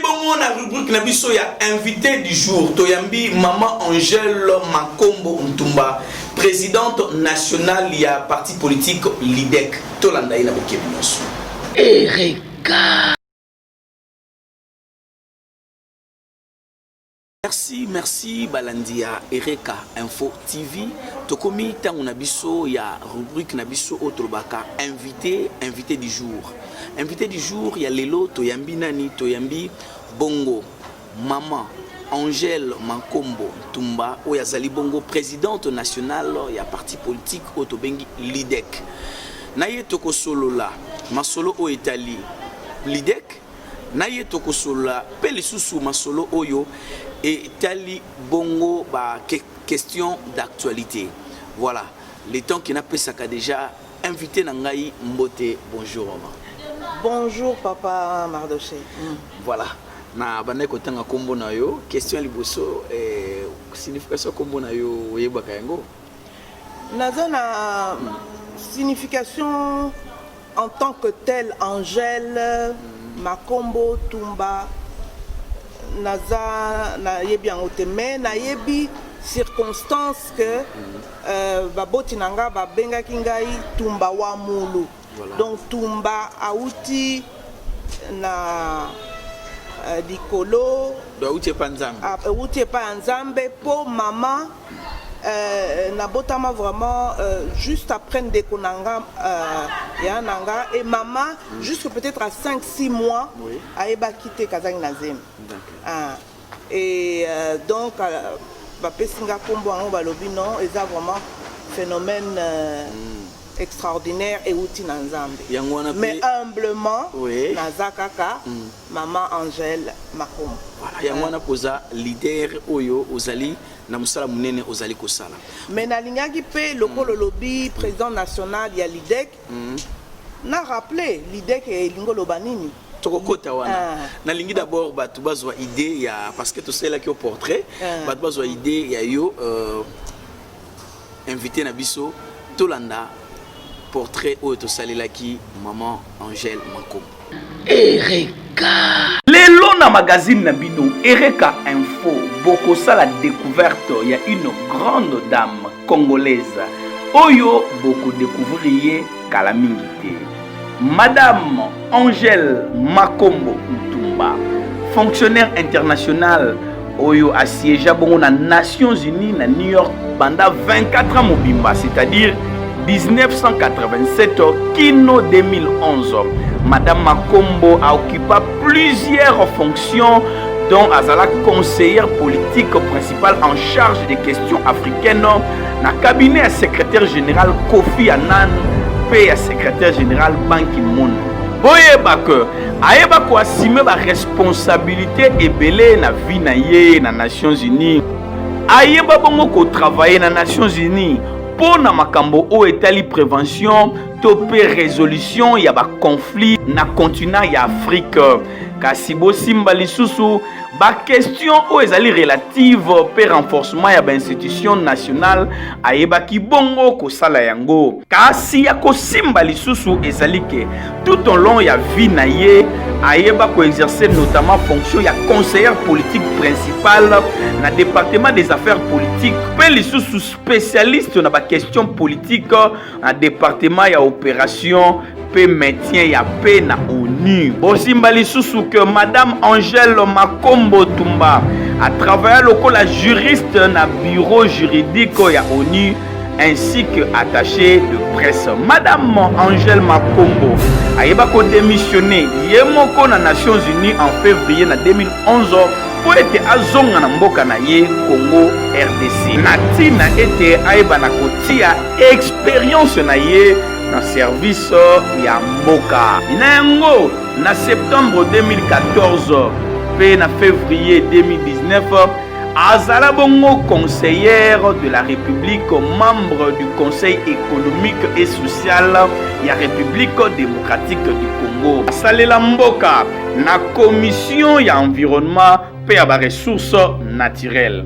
Bongo na rubrique na biso ya invité du jour toyambi maman Angèle Makombo Ntumba présidente nationale ya parti politique LIDEC tolanda ye na bokebi nyonso. Erika Merci, merci balandi ya Ereka Info TV. Tokomi tango na biso ya rubrique na biso oyo tolobaka invité, invité du jour. Invité du jour ya lelo toyambi nani? Toyambi Bongo Maman Angèle Mankombo Ntumba oyo azali bongo présidente nationale ya parti politique oyo tobengi LIDEC. Na ye tokosolola masolo oyo etali LIDEC na ye tokosolola mpe lisusu masolo oyo etali bongo ba question d'actualité voilà le temps que napesaka déjà invité na ngai mbote bonjour mama bonjour papa mardoche mm. voilà na bandaki kotanga nkombo na yo question ya liboso eh, signification ya nkombo na yo oyebaka yango naza na mm. signification En tant que tel Angel Makombo Tumba naza nayebi yango te mais nayebi circonstance que euh, baboti na nga babengaki ngai tumba wa mulu voilà. donc tumba auti na euh, likolo auti epa nzambe auti epa ya nzambe mpo mama Euh, nabotama vraiment euh, juste après ndeko na nga euh, ya na nga et mama mm. jusque peut-être à 5 6 mois oui. ayebaki te kazangi na zemi ah. et euh, donc euh, bapesi nga nkombo yango balobi non eza vraiment phénomène euh, mm. extraordinaire euti na nzambe mais humblement oui. naza kaka mm. Maman Angèle Makombo. Voilà, yango wana koza leader oyo ozali na mosala monene ozali kosala. Mais nalingaki mpe lokolo lobi président national ya l'IDEC mm. na rappeler l'IDEC elingi oloba nini tokokota wana ah. nalingi d'abord bato bazwa idée ya parce que tosalelaki yo portrait ah. bato bazwa idée ya yo euh, invité na biso tolanda portrait oyo tosalelaki maman angèle makombo ereka lelo na magazine na bino ereka info bokosala découverte ya une grande dame congolaise oyo bokodecouvrir ye kala mingi te Madame Angèle Makombo Ntumba, fonctionnaire internationale oyo asiégea bongo na Nations Unies na New York banda 24 ans mobimba, c'est-à-dire 1987 kino 2011. Madame Makombo a occupa plusieurs fonctions dont azala conseillère politique principale en charge des questions africaines Na cabinet ya secrétaire général Kofi Annan mpe ya secrétaire général Ban Ki-moon, boyeba que ayeba ko assumer ba responsabilité ebele na vie na ye na Nations Unies. Ayeba bongo ko travailler na Nations Unies mpo na makambo oyo etali prévention to mpe résolution ya ba conflits na continent ya Afrique. Kasi bosimba lisusu bakestion oyo ezali relative mpe renforcement ya bainstitution nationale ayebaki bongo kosala yango kasi ya kosimba lisusu ezali ke tout au long ya vie na ye ayeba koexerce notamment fonction ya conseillère politique principale na département des affaires politiques mpe lisusu spécialiste na bakestion politique na departema ya operation mpe maintien ya paix na onu bosimba lisusu ke madame angele makombo tumba atravaya lokola juriste na bureau juridique ya onu ainsi que attaché de presse madame angele makombo ayeba kodemissione ye moko na nations unies en février na 2011 mpo ete azonga na mboka na ye congo rdc na ntina ete ayebana kotia experience na ye na service ya mboka na yango na septembre 2014 mpe na fevrier 2019 azala bongo conseillère de la république membre du conseil économique et social ya république démocratique du congo asalela mboka na commission ya environnement mpe ya baressources naturelles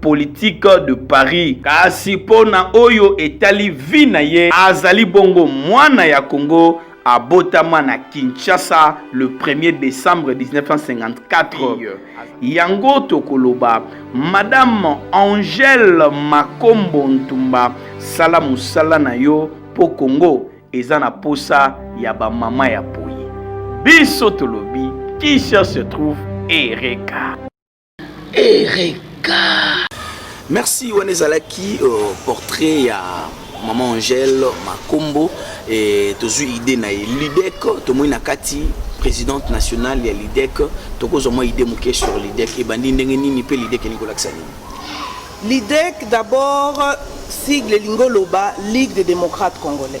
politique de Paris. Kasi mpo na oyo etali vie na ye, azali bongo mwana ya Congo abotama na Kinshasa le 1er décembre 1954. Yango tokoloba Madame Angèle Makombo Ntumba, sala mosala na yo mpo Congo eza na posa ya ba mama ya poyi. Biso tolobi qui cherche trouve Ereka. Ereka. Merci wana ezalaki uh, portrait ya maman Angèle Makombo et tozui idée na ye Lidec tomoni na kati présidente nationale ya Lidec tokozwa mwa idée moke sur Lidec ebandi ndenge nini mpe Lidec elingi kolakisa nini Lidec d'abord sigle elingi oloba Ligue des démocrates congolais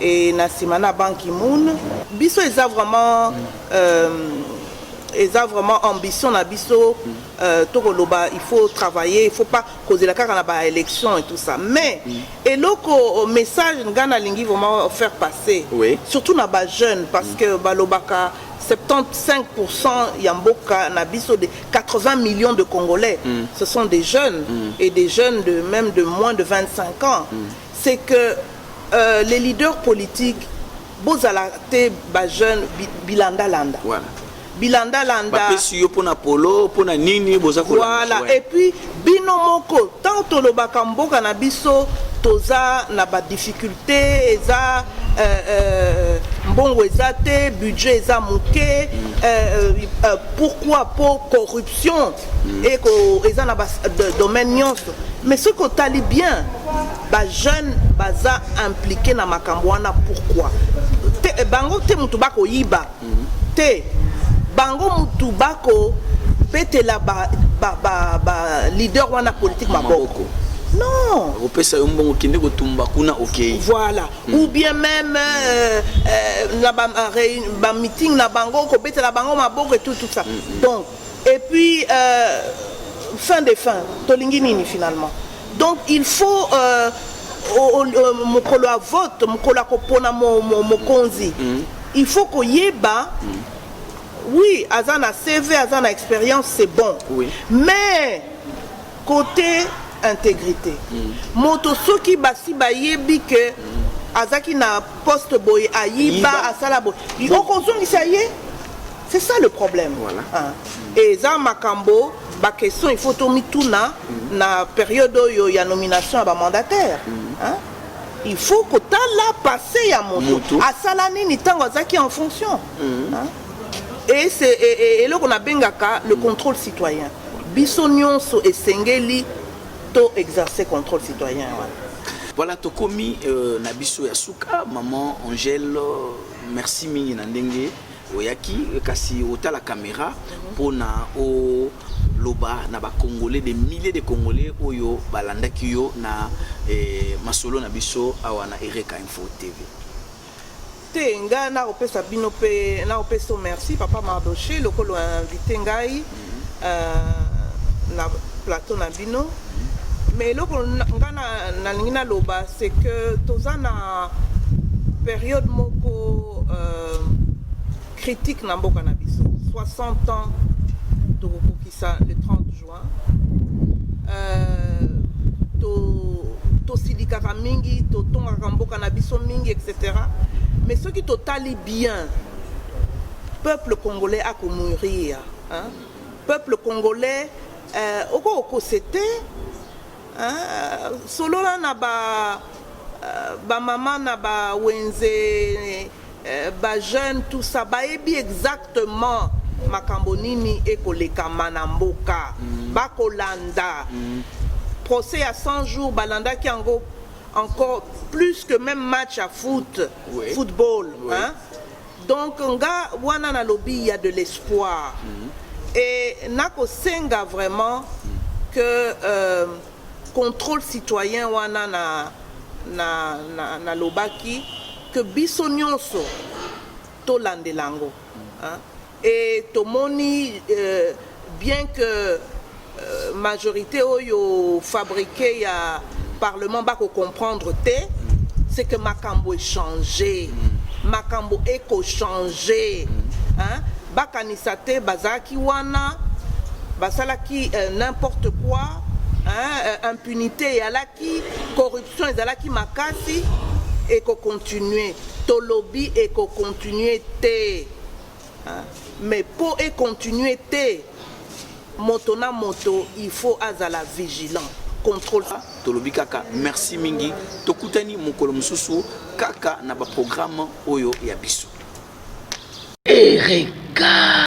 et na sima na Ban Ki-moon. Biso eza vraiment euh, eza vraiment ambition na biso euh, tokoloba il faut travailler il faut pas kozela kaka na ba élection et tout ça mais eloko message nga nalingi vraiment faire passer Oui. surtout na ba jeunes parce que balobaka 75% ya mboka na biso de 80 millions de congolais ce sont des jeunes et des jeunes de même de moins de 25 ans C'est que euh, les leaders politiques bozala te ba jeunes bi, bilanda landa. Voilà. Bilanda landa. Bapesi yo pona polo, pona nini boza ko Voilà. Et puis bino moko tant tolobaka mboka na biso toza na ba difficultés eza euh, euh, mbongo eza te budget eza moke euh, euh, euh pourquoi po corruption et que eza na ba domaine nyonso mais ce que tali bien ba jeunes baza impliqué na makambo wana pourquoi te eh, bango te mutu bako yiba te bango mutu bako betela ba ba ba, ba leader wana politique maboko non opesa yo mbongo kende kotumba kuna okei voilà mm. ou bien même euh, euh, na ba, ba meeting na bango kobetela bango maboko et tout tout ça mm. donc Et puis euh, fin de fin tolingi nini finalement donc il faut euh, mokolo ya vote mokolo ya kopona mokonzi mm. il faut koyeba mm. oui aza na cv aza na expérience c'est bon oui. mais Cote integrite moto soki basi bayebi ke azalaki na poste boye ayiba asala boye okozongisa ye c'est ça le problème voilà. ah. eza makambo baquestion il faut tomituna mm. na période oyo ya nomination ya bamandataire mm. ah. il faut kotala passe ya moto asala nini ntango azalaki en fonction mm. hein? et c'est eloko nabengaka le contrôle citoyen biso nyonso esengeli to exercer contrôle citoyen wana voilà tokomi euh, na biso ya suka maman angèle euh, merci mingi na ndenge oyaki kasi otala kamera mpo na oloba na bacongolais de milliers de congolais oyo balandaki yo na eh, masolo na biso awa na ereka info tv te nga nakopesa bino mpe nakopesa yo merci papa mardoche lokola invite ngai euh, na plateau na bino mais eloko nga nalingi naloba c'est que toza na période moko euh, critique na mboka na biso 60 ans tokokokisa le 30 jours Euh, tosilikaka to mingi totongaka mboka na biso mingi etc mais soki totali bien peuple congolais akomourir hein? peuple congolais euh, okokose te hein? solola na ba euh, bamama na bawenze Eh, ba jeune tout ça bayebi exactement makambo nini ekolekama na mboka mm. bakolanda mm. procès ya 100 jours balandaki yango encore plus que même match à foot oui. football oui. Hein? donc nga wana nalobi il y a de l'espoir mm. et nakosenga vraiment mm. que euh, controle citoyen wana na, na, na, na lobaki que biso nyonso tolandela yango hein? et tomoni euh, bien que euh, majorité oyo fabriqué ya parlement bako comprendre te c'est que makambo echange makambo eko change hein? Bakanisa te bazalaki wana basalaki euh, n'importe quoi hein, euh, impunité eyalaki corruption ezalaki makasi ekocontinue tolobi ekocontinue te hein? mais mpo econtinue te Moto na moto il faut azala vigilant. contrôle tolobi kaka merci mingi tokutani mokolo mosusu kaka na baprogramme oyo ya biso erega